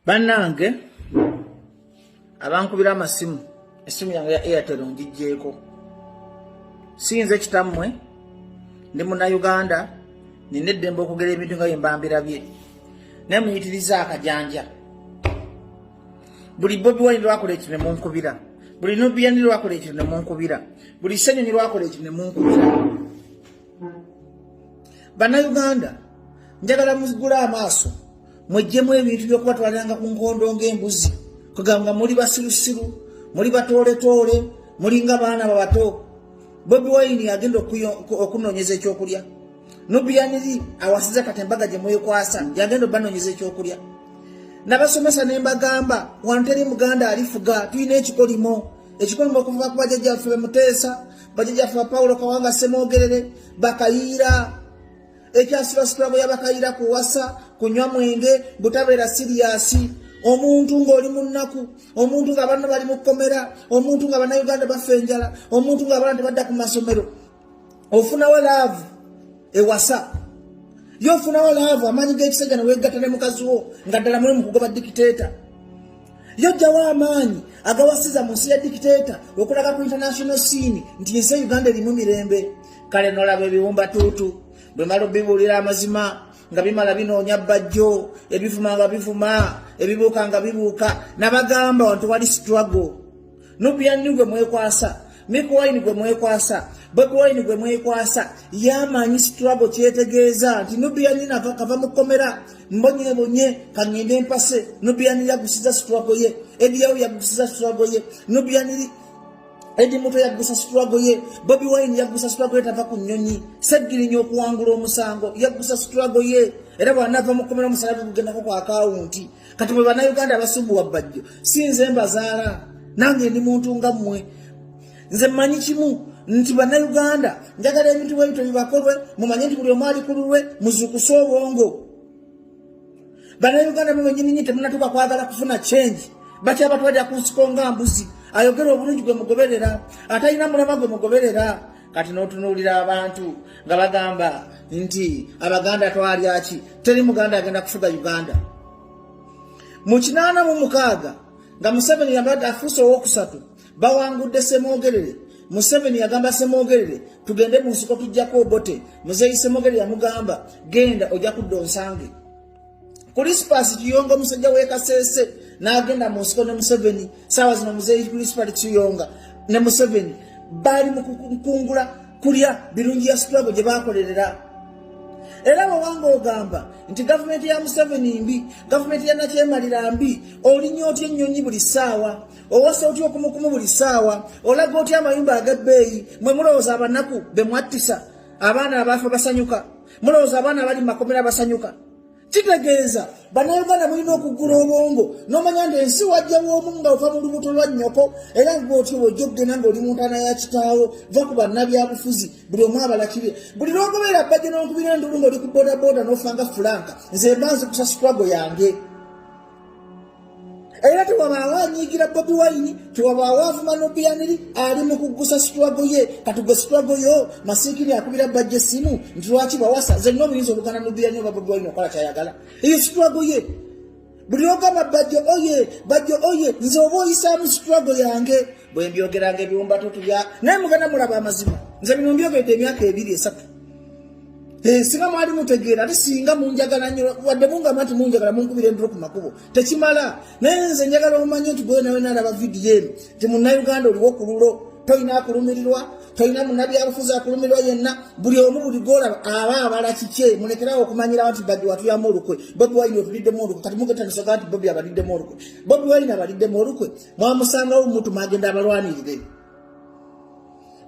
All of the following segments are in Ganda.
bannange abankubira amasimu esimu yange ya airtel ngijjeeko siyinza ekitammwe ndi munauganda nina eddembe okugera ebintu nga byembambirabye naye muyitiriza akajanja buli bobi wani lwakola ekyo nemunkubira buli nobiyani lwakola ekyo nemunkubira buli senyonyi lwakola ekyo nemunkubira bannayuganda njagala mugule amaaso mwejjemu ebintu byokubatwaliranga ku nkondo ngaembuzi kugamba muli basirusiru muli batooletoole mulinga baana babato bobi wayini agenda okunonyeza ekyokulya nubiyaniri awasiza kati embaga gye mwekwasa yagenda obanonyeza ekyokulya nabasomesa ne mbagamba wanteri muganda alifuga tulina ekikolimo ekikolimo okuva kubajajjaffe bemuteesa bajajaffe bapawulo kawanga semwogerere bakayiira ekyasirasitulago yabakayiira kuwasa kunywa mwenge butabeera siriyasi omuntu ng'oli mu nnaku omuntu nga banna bali mu kkomera omuntu nga bannayuganda bafa enjala omuntu nga abana tebadda ku masomero ofunawo laavu ewasa ye ofunawo laavu amaanyi g'ekisajja ne weegatta ne mukazi wo nga ddala muli mu kugoba dikiteeta yajjawo amaanyi agawasiza mu nsi ya dikiteeta okulaga ku international siini nti ensi e uganda erimu mirembe kale nolaba ebiwumba tuutu bwe mala obibuulira amazima nga bimala binoonya bajjo ebivuma nga bivuma ebibuuka nga bibuuka nabagamba wantu wali struggle nubiyanni gwe mwekwasa mik wine gwe mwekwasa bobi wine gwe mwekwasa yamanyi situlabo kyetegeeza nti nubiyanni nava kava mukomera mbonyebonye kangende empase nubiyanni yagusiza situlabo ye ediyawo yagusiza situlabo ye nubiyanni edi muto yaggusa situlago ye bobi wine yaggusa situlago ye tava ku nnyonyi seggirinya okuwangula omusango yaggusa situlago ye era bwanava mukomera omusala bigugendako ku akawunti kati mwe bannayuganda abasumbuwa bbajjo si nze mbazaala nange ndi muntu nga mmwe nze mmanyi kimu nti bannayuganda njagala ebintu bwe bityo bibakolwe mumanye nti buli omu ali ku lulwe muzuukuse obwongo bannayuganda mwe benyininyi temunatuka kwagala kufuna change bakyabatwalira ku nsiko nga mbuzi ayogera obulungi gwe mugoberera atalina mulama gwe mugoberera kati n'otunuulira abantu nga bagamba nti abaganda twalyaki teri muganda agenda kufuga uganda mu kinaana mu mukaaga nga museveni yabadde afuuse owokusatu bawangudde semwogerere museveni yagamba semwogerere tugende mu nsiko tujjako obote muzeeyi semwogerere yamugamba genda ojja kudda onsange Kulisipasi Kiyonga omusajja w'e Kasese n'agenda mu nsiko ne Museveni saawa zino muzeeyi Kulisipasi Kiyonga ne Museveni baali mu kukungula kulya birungi ya sitwago gye baakolerera era bwewanga ogamba nti gavumenti ya Museveni mbi gavumenti ya nakyemalira mbi olinya otya ennyonyi buli ssaawa owasa otya okumukumu buli ssaawa olaga otya amayumba ag'ebbeeyi mwe mulowooza abanaku be mwattisa abaana abaafa basanyuka mulowooza abaana abali mu makomera basanyuka kitegeeza bannayuganda mulina okugula obwongo n'omanya nti ensi wajja w'omu nga ova mu lubuto lwa nnyoko era nga otyo bwojja okugenda ng'oli mu ntaana ya kitaawo va ku bannabyabufuzi buli omu abalakire buli lwogobeera bajja n'okubira endulu ng'oli ku bodaboda n'ofa nga fulanka nze mba nzi kusasitwago yange era tewabaawo anyiigira bobi wayini tewabaawo avuma nobiyaniri ali mu kuggusa sitwago ye katugwe sitwago yo masiikiri akubira bajja essimu nti lwaki bawasa zenna obuyinza obugana nobiyaniri oba bobi wayini okola kyayagala eyo sitwago ye buli ogamba bajjo oye bajjo oye nze oba oyisaamu sitwago yange bwe mbyogeranga ebiwumbatu tulya naye mugana mulaba amazima nze bino mbyogedde emyaka ebiri esatu Eh, singa mwali mutegeera ate singa munjagala nyo wadde mungamba nti munjagala munkubira endiro ku makubo tekimala naye nze njagala omanye nti gweyo nawe nalaba vidiyo eno nti munnauganda oliwo ku lulo tolina akulumirirwa tolina munabyabufuzi akulumirirwa yenna buli omu buli golaba aba abala kikye mulekerawo okumanyirawo nti badi watuyamu olukwe bobi wine otuliddemu olukwe kati mugetanisoga nti bobi abaliddemu olukwe bobi wine abaliddemu olukwe mwamusangawo mutu magenda abalwanirire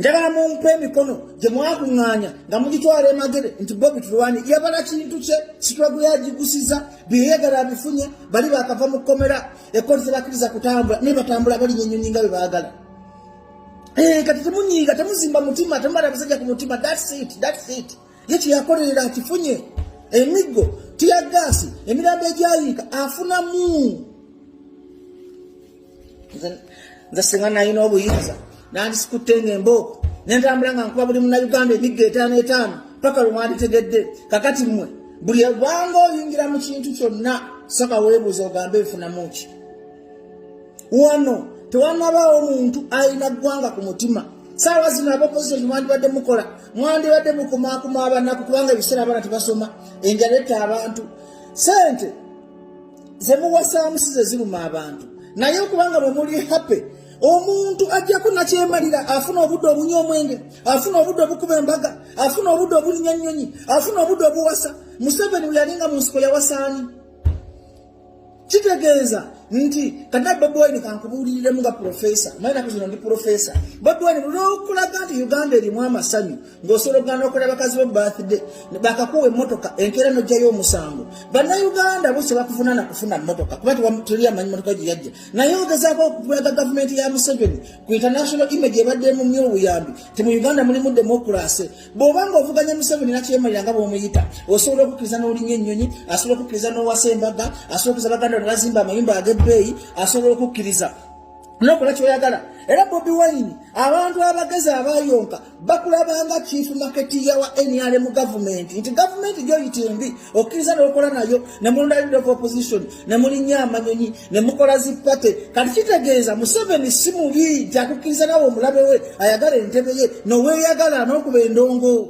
njagala mumpe emikono gye mwakuŋŋaanya nga mugitwala emagere nti bobi tulwani yabala kintu kye sitwagu yagigusiza byeyagala abifunye bali bakava mu kkomera ekkoti tebakkiriza kutambula naye batambula balinya ennyonyi nga bwe baagala eh, kati temunyiiga temuzimba mutima temubala abasajja ku mutima it ye kyeyakolerera akifunye emiggo tiyagaasi emirambo egyayiika afunamu nze singa nalina obuyinza nandisikutte nga embooko nentambula nga nkuba buli munauganda emigga etaano etaano paka lwe mwanditegedde kakati mmwe buli bwanga oyingira mu kintu kyonna saka weebuuza ogambe efunamu ki wano tewanabaawo omuntu alina ggwanga ku mutima saawa zino abopozisoni mwandibadde mukola mwandibadde mukumakuma abanaku kubanga ebiseera abana tebasoma enjala etta abantu sente zemuwasaamu si ze ziruma abantu naye okubanga bwe muli happy omuntu ajjako nakyemalira afuna obudde obunywa omwenge afuna obudde obukuba embaga afuna obudde obulinya ennyonyi afuna obudde obuwasa museveni bwe yalinga mu nsiko yawasaani kitegeeza nti kata bobi wine kankubuuliriremu nga profesa naye naku zino ndi profesa bobi wine lwokulaga nti uganda erimu amasanyu ng'osobola okugana n'okola bakazi bo birthday bakakuwa emmotoka enkeera n'ojjayo omusango bannayuganda bose bakuvunana kufuna mmotoka kuba tewatuli amanyi mmotoka gye yajja naye ogezaako okulaga gavumenti ya museveni ku international image ebadde mu myo obuyambi ti mu uganda mulimu demokurase bw'oba nga ovuganya museveni nakyemalira nga bw'omuyita osobola okukkiriza n'olinya ennyonyi asobola okukkiriza n'owasa embaga asobola okukkiriza baganda ne bazimba amayumba ag'ebbeeyi asobola okukkiriza nokola kyoyagala era bobi wine abantu abagezi abayonka bakulabanga chief market yawa nrm gavumenti nti gavumenti gyoyita embi okkiriza nokola nayo nemulonda leader of opposition nemulinya amanyonyi nemukola zipate kati kitegeeza museveni si mubi nti akukkiriza nawe omulabe we ayagala entebe ye noweyagala nokuba endongo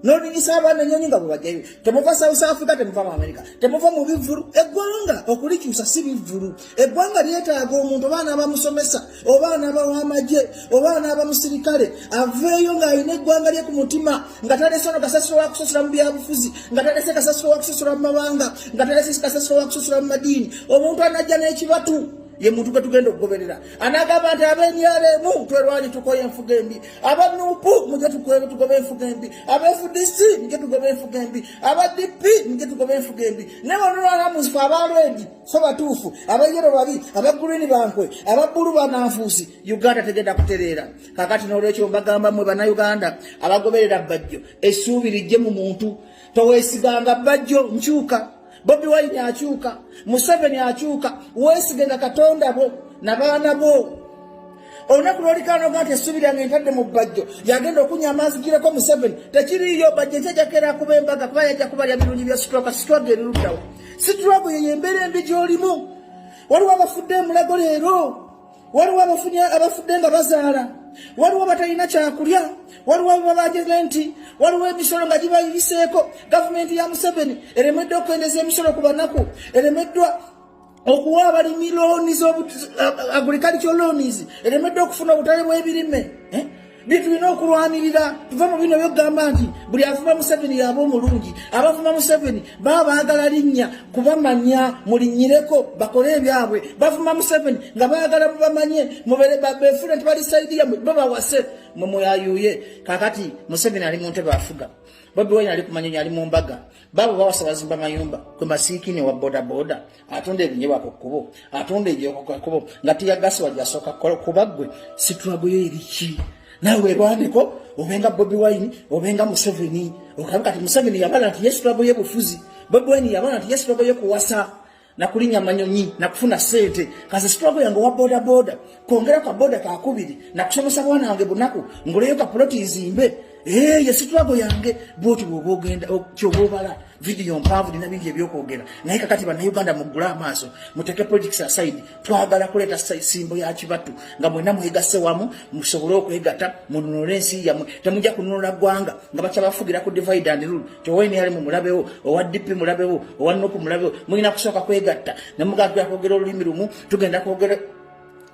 nolinyisa abaana enyonyi nga bwebajayo temuva south africa temuva mu america temuva mu bivvulu eggwanga okulikyusa si bivvulu eggwanga lyetaaga omuntu oba anaaba musomesa oba anaaba wamagye oba anaaba musirikale aveeyo ng'alina eggwanga lye ku mutima nga talese ono kasasiro wa kusasula mu byabufuzi nga talese kasasiro wa kusasula mu mawanga nga talese kasasiro wa kusasula mu madiini omuntu anajja n'ekibatu ye muntu gwe tugenda okugoberera anagamba nti abenyareemu twerwanyi tukoye enfuga embi aba nupu mujja tukwera tugoba enfuga embi aba fdc mujja tugoba enfuga embi aba dp mujja tugoba enfuga embi ne banulwanamuzifu aba lwedi so batuufu aba yero babi aba gurini bankwe aba bulu bananfuusi uganda tegenda kutereera kakati nolwekyo mbagamba mwe banauganda abagoberera bajjo essuubi lijje mu muntu towesiganga bajjo nkyuka bobi wine akyuka museveni akyuka wesigenga katonda bo nabaana bo olunaku lwolikanoga nti essuubi lyange ntadde mu bbajjo yagenda okunya amaazi gireko museveni tekiriiyo bajjo nti ajakera kuba embaga kuba yajja kuba lya birungi bya situlaka situlwaga eriruddawo situlwago yeyo embeera embi gyolimu waliwo abafudde emulago leero waliwo abafunye abafudde nga bazaala waliwo batalina kyakulya waliwo babageze nti waliwo emisolo nga gibayiseeko gavumenti ya museveni eremeddwa okukwendeza emisolo ku banaku eremeddwa okuwa abalimi looni agriculture loans eremeddwa okufuna obutale bw'ebirime eh? naye tulina okulwanirira tuva mu bino byokugamba nti buli avuma museveni yaba omulungi abavuma museveni baba baagala linnya kubamanya mulinyireko bakole ebyabwe bavuma museveni nga baagala mubamanye befule nti bali saidi yamwe babawase mwe mweyayuye kakati museveni ali mu ntebe afuga bobi wine ali kumanyonyi ali mu mbaga babo bawasa bazimba mayumba kwe masiikini wa bodaboda atunda ebinyebwa ku kkubo atunda ebyoko ku kkubo nga tiyagasi wajasooka kukola kuba ggwe situlago yo eriki nawe werwaneko obenga bobi wine obenga museveni okabe kati museveni yabala nti yesitulago ye bufuzi bobi wine yabala nti yesitulago ye kuwasa nakulinya manyonyi nakufuna sente kaze situlago yange owa bodaboda kwongera ka boda kakubiri nakusomesa bwana wange bunaku nguleyo ka poloti izimbe ee eh, yesitulago yange bwoti bwoba ogenda kyoba obala vidiyo mpaavu lina bingi ebyokwogera naye kakati banauganda mugule amaaso muteke politics aside twagala kuleeta simbo ya kibatu nga mwena mwegasse wamu musobole okwegata mununule ensi yamwe temujja kununula ggwanga nga bakyabafugira ku divide and rule towenr mu mulabewo owa dp mulabewo owa nopu mulabewo mulina kusooka kwegatta nemugagera kwogera olulimi lumu tugenda kwogera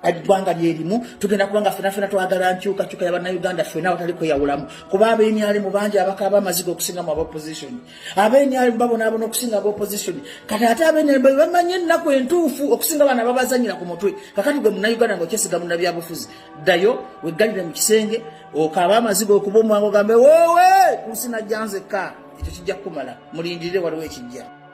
eggwanga lyerimu tugenda kubanga fena fena twagala nkyukakyuka yabanauganda fena awatali kweyawulamu kuba abenyalimu bangi abakaaba amaziga okusinga mu abaopposition abenyalimu babonaabona okusinga abaopposition kati ate abenyalimu bebamanye ennaku entuufu okusinga bana babazanyira ku mutwe kakati gwe munauganda nga okyesiga munabyabufuzi ddayo weggalire mu kisenge okaaba amaziga okuba omwango gambe wowe kunsi najjanzekka ekyo kijja kukumala mulindirire waliwo ekijja